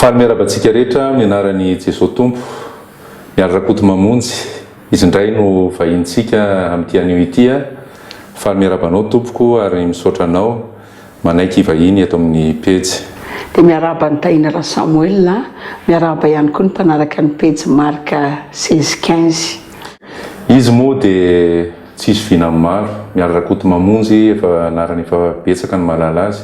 Faly miaraba antsika rehetra amin'ny anaran'i Jesoa Tompo. Mialy Rakotomamonjy, izy indray no vahinintsika amin'ity anio ity. Faly miaraba anao tompoko ary misaotra anao manaiky hivahiny eto amin'ny pejy. Dia miaraba an'i Tahina Rasamoel, miaraba ihany koa ny mpanaraka ny pejy Marc seize quinze. Izy moa dia. Tsisy vina ny maro. Mialy Rakotomamonjy efa anarana efa betsaka no mahalala azy.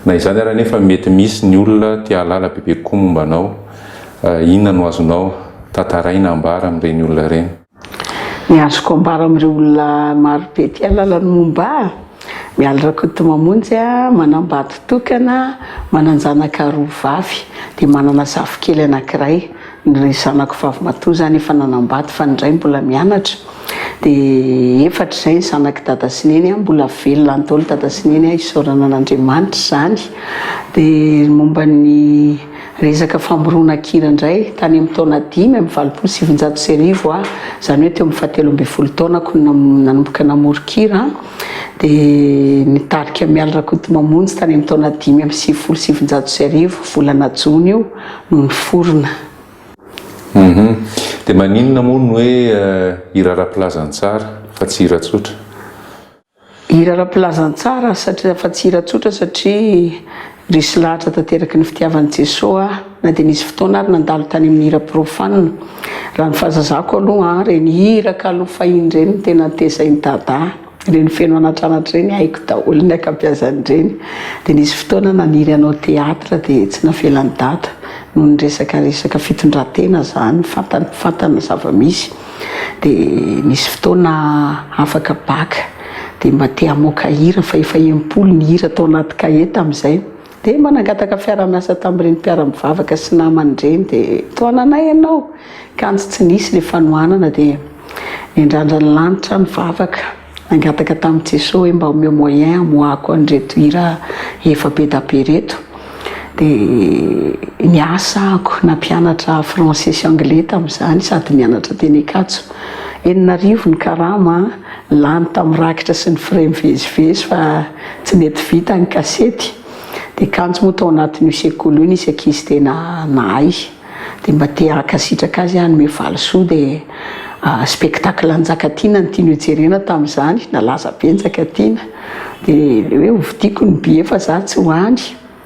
Na izany ary anefa mety misy ny olona te hahalala bebe kokoa momba anao. Inona no azonao tantaraina ambara amin'ireny olona ireny? Ny azoko ambara amin'ireo olona marobe te hahalala ny momba ahy? Mialy Rakotomamonjy a, manambady tokana, manan-janaka roa vavy, dia manana zafikely anankiray, ny ray zanako vavimatoa izany efa nanambady fa ny iray mbola mianatra, dia efatra izay ny zanak'i Dada sy Neny a, mbola velona any daholo Dada sy Neny a, isaorana an'Andriamanitra izany, dia momba ny. Resaka famorona kira indray, tany amin'ny taona dimy amby valopolo sy sivinjato sy arivo aho, izany hoe teo amin'ny fahatelo ambin'ny folo taonako no nanomboka namory kira, dia nitarika an'i Mialy Rakotomamonjy tany amin'ny taona dimy amby sivifolo sy sivinjato sy arivo, volana jona io no niforona. Humm. Dia maninona moa ny hoe hira ara-pilazantsara fa tsy hira tsotra? Hira ara-pilazantsara satria fa tsy hira tsotra satria resy lahatra tanteraky ny fitiavan'i Jesoa aho na dia nisy fotoana ary nandalo tany amin'ny hira profane. Raha ny fahazazako aloha an, ireny hira kalo fahiny ireny no tena tezain'i Dada, ireny feno anatranatra ireny haiko daholo ny ankabiazan'ireny. Dia nisy fotoana naniry hanao théâtre dia tsy navelan'i Dada noho ny resaka resaka fitondran-tena izany, fantany fantany ny zava-misy. dia misy fotoana afaka bac dia mba te hamoaka hira fa efa impolo ny hira tao anaty cahier tamin'izay dia mba nangataka fiara-miasa tamin'ireny mpiara-mivavaka sy namany ireny dia tohananay ianao kanjo tsy nisy ilay fanohanana dia nendrandrany lanitra ny vavaka Nangataka tamin'i Jesoa hoe mba omeo moyen hamoahako an'ireto hira efa be da be ireto. Dia niasa ako, nampianatra français sy anglais tamin'izany sady nianatra teny Ankatso. Enina arivo ny karama, lany tamin'ny rakitra sy ny frais mivezivezy fa tsy nety vita ny kasety. Dia kanjo moa tao anatin'io sekoly io nisy ankizy tena nahay. Dia mba te hankasitraka azy hanome valisoa dia spectacle Njakatiana no tiany hojerena tamin'izany, nalaza be Njakatiana dia ilay hoe hovidiako ny billet fa za tsy ho any,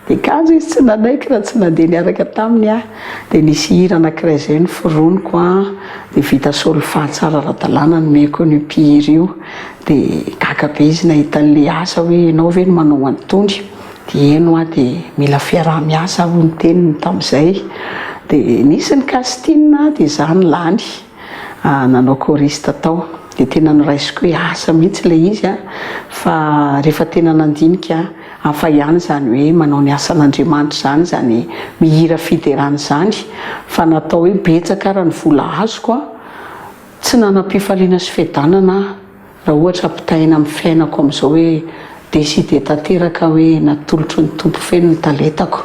dia kanjo izy tsy nanaiky raha tsy nandeha niaraka taminy aho, dia nisy hira anankiray izay noforoniko an, dia vita solfa tsara ara-dalàna nomeko an'io mpihira io, dia gaga be izy nahita an'ilay asa hoe ianao ve no manao an'itony? Dieny hoa dia mila fiaraha-miasa hoy ny teniny tamin'izay. Dia nisy ny casting dia izaho no lany nanao choriste tao. Dia tena noraisiko hoe asa mihitsy ilay izy fa rehefa tena nandinika hafa ihany izany hoe manao ny asan'Andriamanitra izany, izany mihira fiderana izany fa natao hoe betsaka ary ny vola azoko. Tsy nanam-pifaliana sy fiadanana aho Raha ohatra ampitahaina amin'ny fiainako amin'izao hoe décider tanteraka hoe natolotry ny Tompo feno ny talentako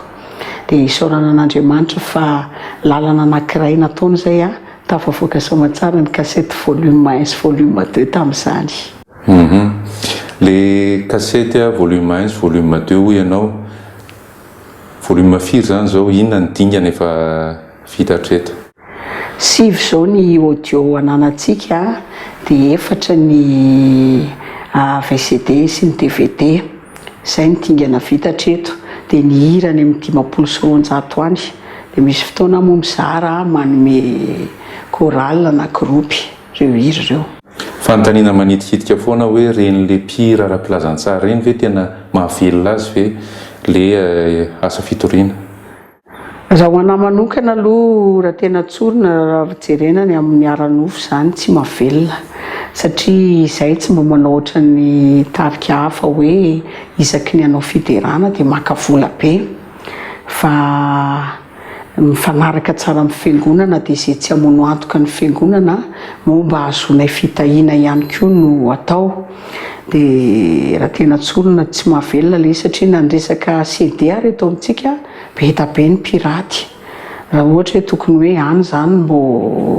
dia isaorana an'Andriamanitra fa lalana anankiray nataony izay aho tafavoaka soa aman-tsara ny kasety volume un sy volume deux tamin'izany. Humm. Le kasety volume un sy volume deux hoy ianao, volume firy izany izao, inona ny dingana efa vita hatreto? Sivy zao ny audio ananantsika de efatra ny VCD sy ny dvd. Zay ny dingana vita hatreto. De ny hira any amin'ny dimampolo sy roanjato any. De misy fotoana aho moa mizara manome chorale na groupe reo hira reo. Fanontaniana manitikitika foana hoe reny le mpihira ara-pilazantsara reny ve tena mahavelona azy ve le asa fitoriana? Raha ho anah manokana aloha raha tena tsorina raha jerena ny amin'ny ara-nofo izany tsy mavelona satria izahay tsy mba manao ohatran'ny tarika hafa hoe isaky ny hanao fiderana dia maka vola be fa mifanaraka tsara amin'ny fiangonana dia izay tsy hamono antoka ny fiangonana moa mba hahazoanay fitahiana ihany koa no atao. Dia raha tena tsorina tsy mahavelona ilay izy satria na ny resaka CD ary eto amintsika be da be ny piraty. Raha ohatra hoe tokony hoe any izany no mbô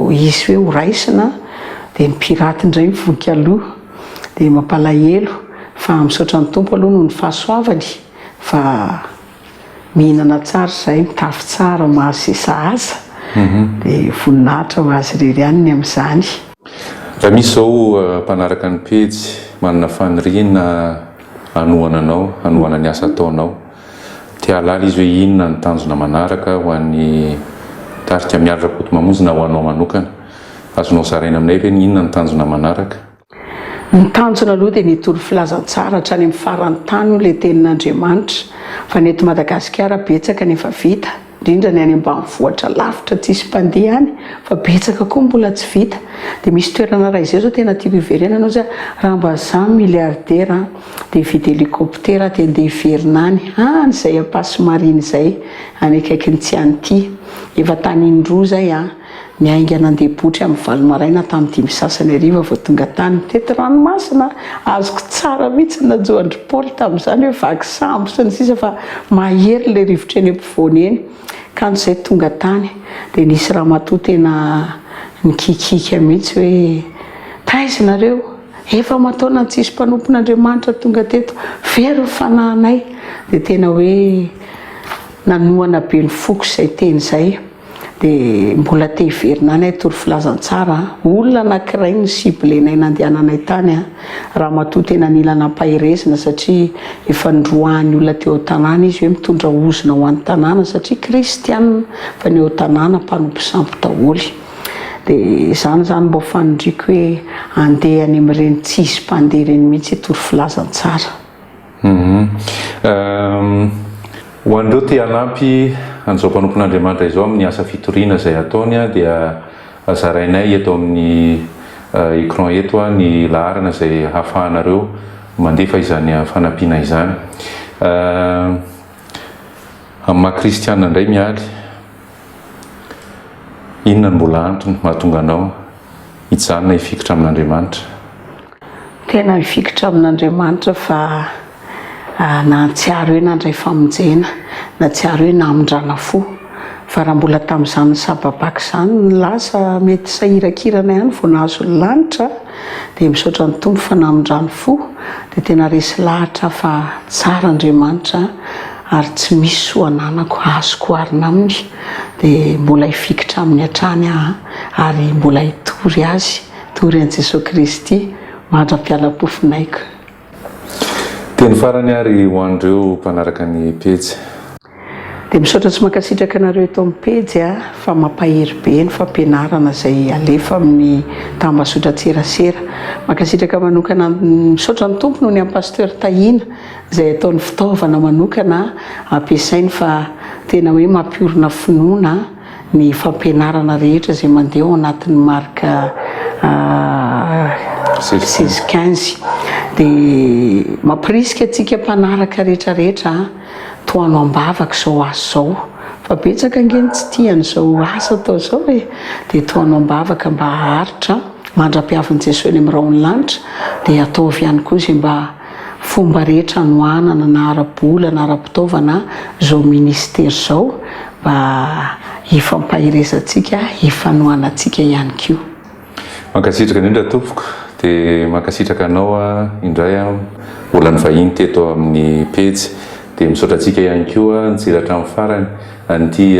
hisy hoe ho raisina dia ny piraty indray mivonika aloha. Dia mampalahelo fa misaotra ny Tompo aloha noho ny fahasoavany fa. Mihinana tsara izahay, mitafy tsara, mahazo izay sahaza, dia voninahitra ho Azy irery ihany ny amin'izany. Raha misy izao mpanaraka ny pejy manana faniriana hanohana anao, hanohana ny asa ataonao, te hahalala izy hoe inona ny tanjona manaraka ho an'ny tarika Mialy Rakotomamonjy na ho anao manokana, azonao zaraina aminay ve ny inona ny tanjona manaraka? Ny tanjona aloha dia ny hitory filazantsara hatrany amin'ny faran'ny tany hoy ilay tenin'Andriamanitra fa ny eto Madagasikara betsaka ny efa vita indrindra ny any ambanivohitra lavitra tsisy mpandeha any fa betsaka koa ny mbola tsy vita dia misy toerana raha izay zao tena tiako hiverenana ozy raha mba za milliardaire an dia hividy hélicoptère aho dia ndeha hiverina any any zay ampasy marina izay any akaikin'ny tsy any ity efa tany indroa zay an Niainga nandeha botry amin'ny valo maraina hatramin'ny dimy sasany hariva vao tonga tany. Teto ranomasina, azoko tsara mihitsy ny najoan-dry Paoly tamin'izany hoe vaky sambo sy ny sisa fa mahery ilay rivotra eny ampovoany eny. Kanjo izay tonga tany dia nisy ramatoa tena nikiakiaka mihitsy hoe, taiza ianareo? Efa aman-taonany tsisy mpanompon'Andriamanitra tonga teto, very ny fanahinay. Dia tena hoe nanohana be ny foko izay teny izay. Dia mbola te hiverina any hitory filazantsara an! Olona anankiray no cible-nay nandehananay tany an! Ramatoa tena nila nampaherezina satria efa nindroahan'ny olona teo an-tanàna izy hoe mitondra ozona ho an'ny tanàna satria kristiana fa ny ao an-tanàna mpanompo sampy daholo. Dia izany izany mba ho fanindriako hoe andeha any amin'ireny tsisy mpandeha ireny mihitsy hitory filazantsara. Ho an'ireo te hanampy an'izao mpanompon'Andriamanitra izao amin'ny asa fitoriana izay ataony dia zarainay eto amin'ny écran eto ny laharana izay hahafahanareo mandefa izany fanampiana izany amin'ny maha kristiana indray mialy. Inona no mbola antony mahatonga anao hijanona hifikitra amin'Andriamanitra? Tena hifikitra amin'Andriamanitra fa nahatsiaro hoe nandray famonjena, nahatsiaro hoe namindrana fo. Fa raha mbola tamin'izany sababaka izany ny lasa, mety sahirakirana ihany vao nahazo ny lanitra, dia misaotra ny Tompo fa namindrany fo, dia tena resy lahatra fa tsara Andriamanitra. ary tsy misy soa ananako azoko oharina aminy dia mbola hifikitra aminy hatrany aho ary mbola hitory azy tory an'i Jesoa Kristy mandra-pialam-pofonaiko. Teny farany ary ho an'ireo mpanaraka ny pejy. Dia misaotra sy mankasitraka anareo eto amin'ny pejy a, fa mampahery be ny fampianarana izay alefa amin'ny tambazotran-tserasera. Mankasitraka manokana, misaotra ny Tompo noho ny an'i Pasteur Tahina izay ataony fitaovana manokana ampiasainy fa tena hoe mampiorina finoana ny fampianarana rehetra izay mandeha ao anatin'ny marika seize quinze dia mampirisika antsika mpanaraka rehetra rehetra tohano am-bavaka izao asa izao fa betsaka ange ny tsy tia an'izao asa atao izao e dia tohano am-bavaka mba haharitra mandra-piavin'i Jesoa eny amin'ny rahon'ny lanitra dia ataovy ihany koa izay mba fomba rehetra anohanana na ara-bola na ara-pitaovana izao Minisitera izao mba hifampaherezantsika, hifanohanantsika ihany koa. Mankasitraka indrindra tompoko, dia mankasitraka anao indray mbola nivahiny teto amin'ny pejy, dia misaotra antsika ihany koa nijera hatramin'ny farany an'ity.